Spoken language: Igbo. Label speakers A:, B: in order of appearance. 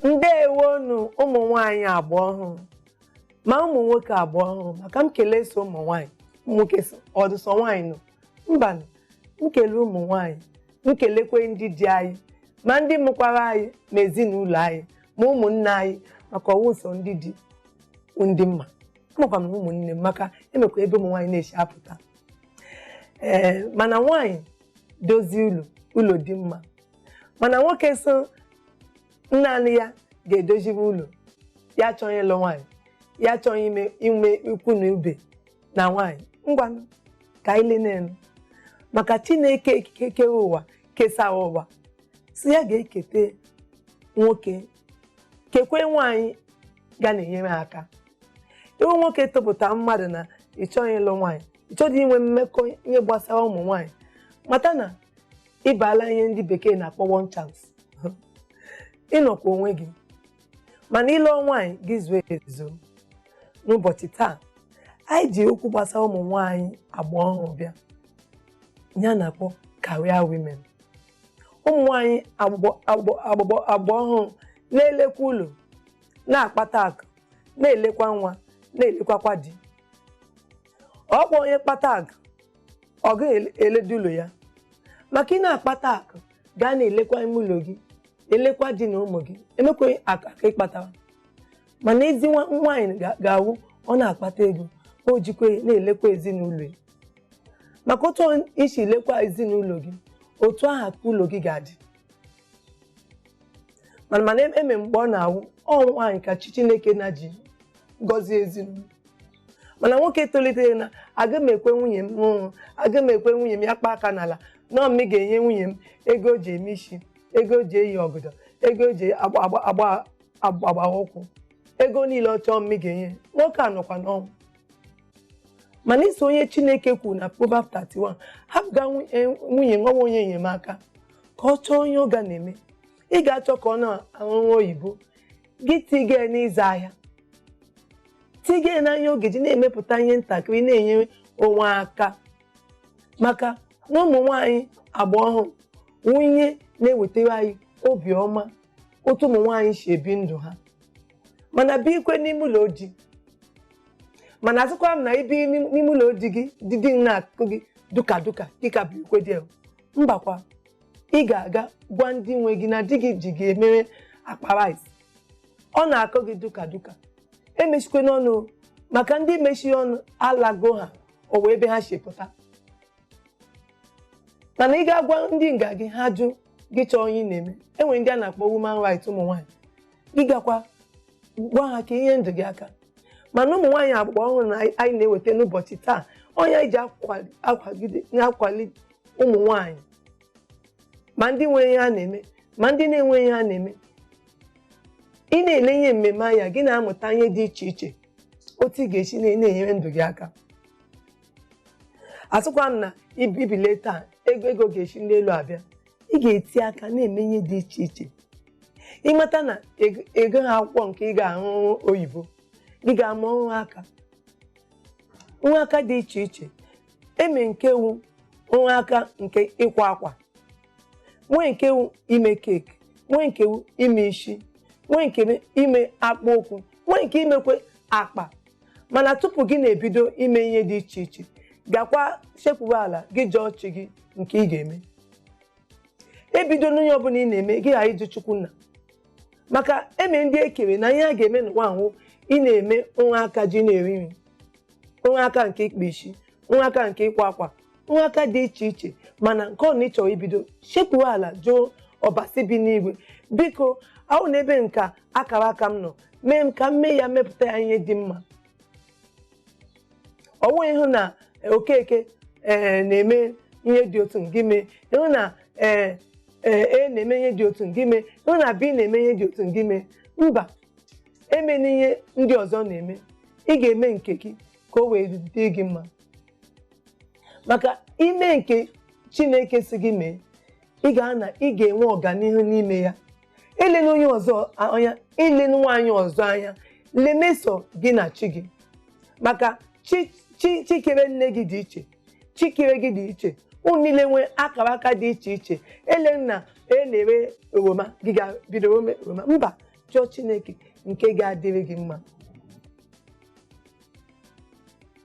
A: ndewonu ụmụ nwanyị agba ọhụrụ ma ụmụ nwoke agba ọhụrụ maka m kelee sọ ụmụ nwanyị ụmụ nwoke sị ọ dị sọ nwanyị nọ mba nụ, m kelee ụmụ nwanyị m kelekwe ndị di anyị ma ndị mụkwara anyị ma ezinụlọ anyị ma ụmụnne anyị maka ọ wụ sọ ndị di ndị mma amakwa m na ụmụnne amaka emekwa ebe ụmụ nwanyị na-esi apụta ee mana nwaanyị dozie ụlọ ụlọ dị mma mana nwoke sị naanị ya ga-edozibe ụlọ ya achọghị ịlụ nwaanyị ya achọghị ime inwe ikwu na ibe na nwaanyị ngwanụ ka anyị lenenu maka chineke kewe ụwa kesịa ụwa sị ya ga-ekete nwoke kekwe nwaanyị ga na-enyere ya aka ị wụ nwoke topụta mmadụ na ị chọghị ịlụ nwaanyị ị chọghị inwe mmekọ ihe gbasara ụmụ nwaanyị mata na ị bala ihe ndị bekee na-akpọ one chance ị nọkwa onwe gị mana ị lụọ nwaanyị gị zuo ezo n'ụbọchị taa anyị ji okwu gbasara ụmụ nwaanyị agba ọhụrụ bịa ihe a na-akpọ career women ụmụ nwanyị agba ọhụrụ na-elekwa ụlọ na-akpata akụ na-elekwa nwa na-elekwakwa di ọkwa onye kpata akụ ọ ga-eledo ụlọ ya maka ị na-akpata akụ gaa na-elekwa ime ụlọ gị elekwa di na ụmụ gị emekwaghị akụ aka ị kpatara mana ezi nwa- nwaanyị ga- ga-awụ ọ na-akpata ego o jikwa ya na-elekwa ezinụlọ ya maka otu i si lekwa ezinụlọ gị otu ahụ ka ụlọ gị ga-adị mana mana em- eme mgbe ọ na-awụ ọ nwaanyị ka chi chineke na-eji gọzie ezinụlọ mana nwoke tolitere na aga m ekwe nwunye m rụọ ọrụ aga m ekwe nwunye m ya kpa aka n'ala na ọ m ga-enye nwunye m ego o ji eme isi ego o ji eyi ọgọdọ ego o ji agba agba ụkwụ ego niile ọ chọọ m ga-enye nwoke a nọkwa n'ọnwụ mana i so ihe chineke kwuru na Proverb 31 hapụga nwu- eh, nwunye wụ onye enyemaka ka ọ chọọ ihe ọ ga na-eme ị ga-achọ ka ọ na-arụ ọrụ oyibo gị tiga ya n'ịzụ ahịa tiga ya n'ihe ọ ga-eji na-emepụta ihe ntakịrị na-enye onwe aka maka na ụmụ nwaanyị agba ọhụrụ wụ ihe na-ewetara anyị obiọma otu ụmụ nwaanyị si ebi ndụ ha ma na-ebikwe n'ime ụlọ di mana asịkwa m na i bi n'im- n'ime ụlọ di gị di di na-akụ gị duka duka dịka bụ ikwe dị mbakwa ị ga-aga gwa ndị nwe gị na di gị ji gị emere akpa rice ọ na-akụ gị duka duka emechikwe n'ọnụ o, maka ndị mechi ọnụ alago ha o wee ebe ha si pụta mana ị ga-agwa ndị nga gị ha jụ gị chọọ onye ị na-eme enwere ndị a na-akpọ woman right ụmụ nwaanyị gị gakwa gwa ha ka e nye ndụ gị aka mana ụmụ nwaanyị agba ọhụrụ na anyị na-eweta n'ụbọchị taa onye anyị ji akwali- akwagide na-akwali ụmụ nwaanyị ma ndị nwere ihe ha na-eme ma ndị na-enwe ihe ha na-eme ị na-ele ihe mmemme anya gị na-amụta ihe dị iche iche otu ị ga-esi na- na-enyere ndụ gị aka asịkwa m na ib- i bilie taa ego ego ga-esi n'elu abịa ị ga-eti aka na-eme ihe dị iche iche ị mata na ị gụ- ị gụha akwụkwọ nke ị ga-asụ oyibo gị ga-amụ ọrụ aka ọrụ aka dị iche iche eme nke wu ọrụ aka nke ịkwa akwa nwee nke wu ime keeki nwee nke wu ime isi nwee nke ime akpụ ụkwụ nwee nke imekwe akpa mana tupu gị na-ebido ime ihe dị iche iche gakwa sekpuru ala gị jụọ chi gị nke ị ga-eme ebidona ihe ọbụla ị na-eme gị ghara ịjụ chukwu nna maka e nwe ndị e kere na ihe ha ga-eme n'ụwa wu ị na-eme ọrụ aka ji na-eri nri ọrụ aka nke ịkpa isi ọrụ aka nke ịkwa akwa ọrụ aka dị iche iche mana nke ọbụla ị chọ ibido sekpuo ala jụọ ọbasi bi n'igwe biko ọ wu n'ebee ka akara aka m nọ mee m ka m mee ya mepụta ya ihe dị mma ọ wughị ịhụ na eh, Okeke ee eh, na-eme ihe dị otu gị mee ịhụ na ee eh, ee A na-eme ihe dị otu gị mee ịhụ na B na-eme ihe dị otu gị mee mba emena ihe ndị ọzọ na-eme ị ga-eme nke gị ka o wee dị gị mma maka ime nke chineke si gị mee ị ga-ana ị ga-enwe ọganihu n'ime ya elena onye ọzọ anya elena nwaanyị ọzọ anya lemeso gị na chi gị maka chi chi chi kere nne gị dị iche chi kere gị dị iche unu niile nwee akara aka dị iche iche elena A na-ere oroma gị gaa bido ome oroma mba chọọ chineke nke ga-adịrị gị mma